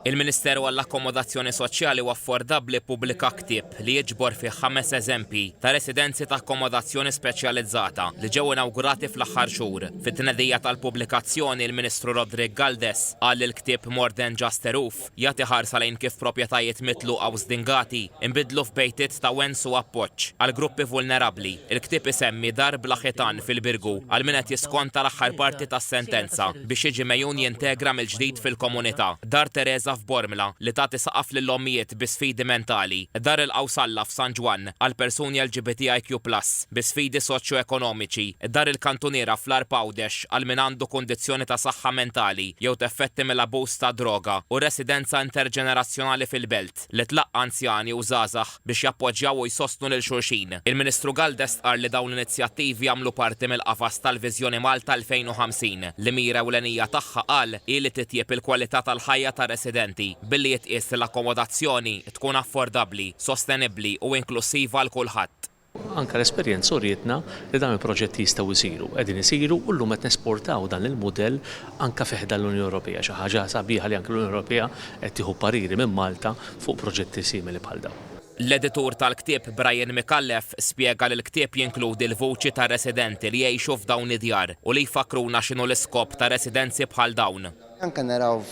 Il-Ministeru għall-Akkomodazzjoni Soċjali u Affordabbli ppubblika ktieb li jiġbor fih ħames eżempji ta' residenzi ta' akkomodazzjoni speċjalizzata li ġew inawgurati fl-aħħar xhur. Fit-tnedija tal-pubblikazzjoni, il-Ministru Roderick Galdes qal li l-ktieb More Than Just a Roof jagħti ħarsa lejn kif proprjetajiet mitluqa u żdingati Inbidlu f'bejtiet ta' wens u appoġġ għal gruppi vulnerabbli. Il-ktieb isemmi dar bla ħitan fil-Birgu għal min qed jiskonta l-aħħar parti tas-sentenza biex jiġi megħjun jintegra mill-ġdid fil-komunità. Dar Tereża f'Bormla li tagħti saqaf lill-ommijiet bi sfidi mentali. Dar il-Qawsalla f'San Ġwann għal persuni LGBTIQ plus bi sfidi soċjoekonomiċi. Dar il-Kantuniera fl-Għarb Għawdex għal min għandu kundizzjoni ta' saħħa mentali jew teffetti mill-abuż tad-droga u Residenza Interġenerazzjonali fil-Belt. li tlaqqa' anzjani u żgħażagħ biex jappoġġjaw u jsostnu lil xulxin. Il-Ministru Galdes stqarr li dawn l-inizjattivi jagħmlu parti mill-qafas tal-Viżjoni Malta 2050, li mira ewlenija tagħha qal hi li titjieb il-kwalità tal-ħajja tar-residenti billi jitqies li l-akkomodazzjoni tkun affordabbli, sostenibbli u inklussiva għal kulħadd. Anke l-esperjenza urietna li dawn il-proġetti jistgħu jsiru, qegħdin isiru u llum qed nesportaw dan il-mudell anke fi ħdan l-Unjoni Ewropea. Xi ħaġa sabiħa li anke l-Unjoni Ewropea qed tieħu pariri minn Malta fuq proġetti simili bħal dawn. L-editur tal-ktieb Brian Micallef spjega li l-ktieb jinkludi l-vuċi ta' residenti li jgħixu f'dawn id-djar u li jfakkruna x'inhu l-iskop ta' residenzi bħal dawn. Anke naraw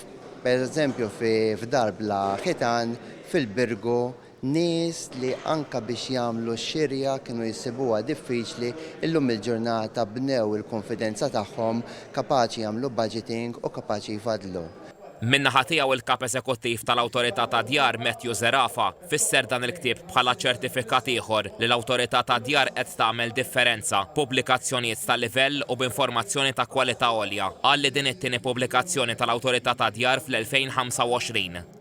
pereżempju f'dar bla ħitan fil-Birgu Nies li anke biex jagħmlu x-xirja kienu jsibuha diffiċli, illum il-ġurnata bnew il-kunfidenza tagħhom, kapaċi jagħmlu budgeting u kapaċi jfaddlu. Min-naħa tiegħu il-Kap Eżekuttiv tal-Awtorità tad-Djar Matthew Zerafa fisser dan il-ktieb bħala ċertifikat ieħor li l-Awtorità tad-Djar qed tagħmel differenza, pubblikazzjonijiet ta' livell u b'informazzjoni ta' kwalità għolja. Qal li din it-tieni pubblikazzjoni tal-Awtorità tad-Djar fl-2025.